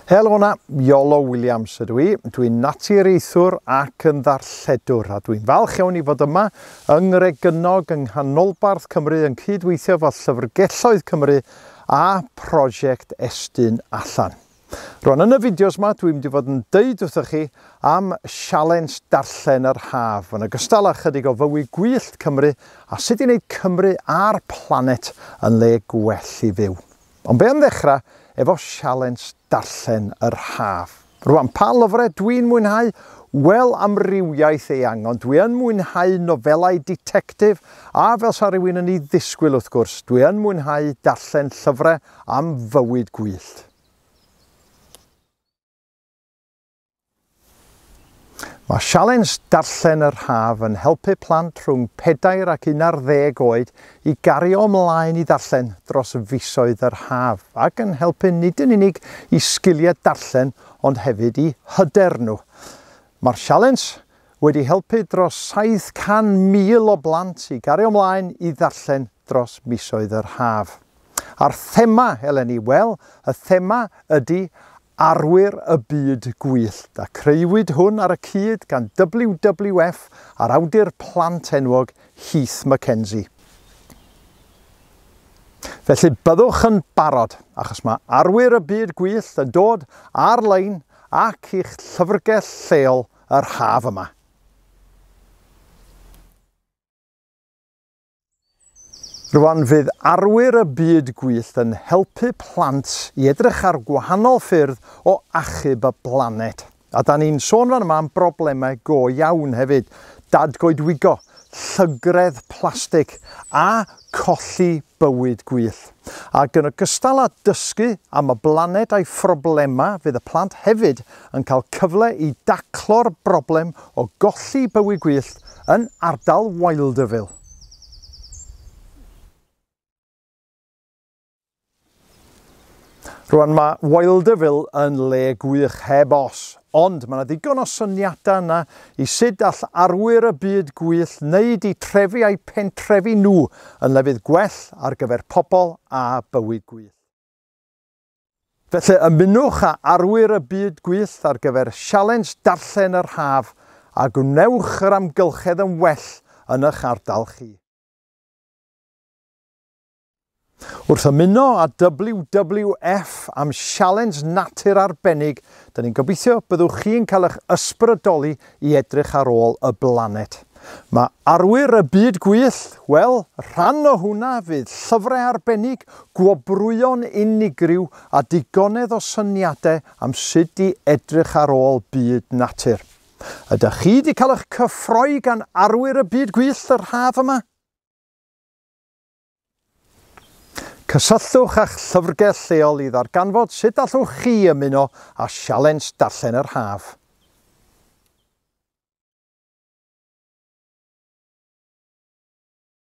Helo na, Iolo Williams ydw i. Dwi'n naturiaethwr ac yn ddarlledwr a dwi'n falch iawn i fod yma yng Ngregennog yng nghanolbarth Cymru yn cydweithio fo Llyfrgelloedd Cymru a prosiect Estyn Allan. Rwan yn y fideos ma dwi'n mynd i fod yn deud wrthoch chi am sialens darllen yr haf, yn ogystal â chydig o fywy gwyllt Cymru a sut i wneud Cymru a'r planet yn le gwell i fyw. Ond be am ddechrau efo sialens darllen yr haf. Rwan, pa lyfrau dwi'n mwynhau? Wel, amrywiaeth eang, ond dwi yn mwynhau nofelau ditectif a fel sa rhywun yn ei ddisgwyl wrth gwrs, dwi yn mwynhau darllen llyfrau Am fywyd gwyllt. Mae sialens darllen yr haf yn helpu plant rhwng pedair ac un ar ddeg oed i gario ymlaen i ddarllen dros fisoedd yr haf ac yn helpu nid yn unig i sgiliau darllen ond hefyd i hyder nhw. Mae'r sialens wedi helpu dros 700,000 o blant i gario ymlaen i ddarllen dros misoedd yr haf. A'r thema eleni? Wel, y thema ydy arwyr y byd gwyllt a creuwyd hwn ar y cyd gan WWF a'r awdur plant enwog Heath McKenzie. Felly byddwch yn barod, achos mae arwyr y byd gwyllt yn dod ar-lein ac i'ch llyfrgell lleol yr haf yma. Rwan fydd arwyr y byd gwyllt yn helpu plant i edrych ar gwahanol ffyrdd o achub y blaned. A da ni'n sôn fan yma am broblemau go iawn hefyd, dadgoedwigo, llygredd plastig a colli bywyd gwyllt. Ac yn ogystal â dysgu am y blaned a'i phroblemau fydd y plant hefyd yn cael cyfle i daclo'r broblem o golli bywi gwyllt yn ardal Wildeville. Rwan mae Wildeville yn le gwych heb os, ond mae yna ddigon o syniadau yna i sut all arwyr y byd gwyllt wneud i trefi a'i pentrefi nhw yn lefydd gwell ar gyfer pobl a bywi gwyllt. Felly ymunwch â arwyr y byd gwyllt ar gyfer Sialens Darllen yr Haf a gwnewch yr amgylchedd yn well yn eich ardal chi. Wrth ymuno â WWF am sialens natur arbennig, dyn ni'n gobeithio byddwch chi'n cael eich ysbrydoli i edrych ar ôl y blanet. Mae arwyr y byd gwyllt, wel, rhan o hwnna fydd llyfrau arbennig, gwobrwyon unigryw a digonedd o syniadau am sut i edrych ar ôl byd natur. Ydych chi wedi cael eich cyffroi gan arwyr y byd gwyllt yr haf yma? Cysylltwch â'ch llyfrgell lleol i ddarganfod sut allwch chi ymuno â Sialens Darllen yr Haf.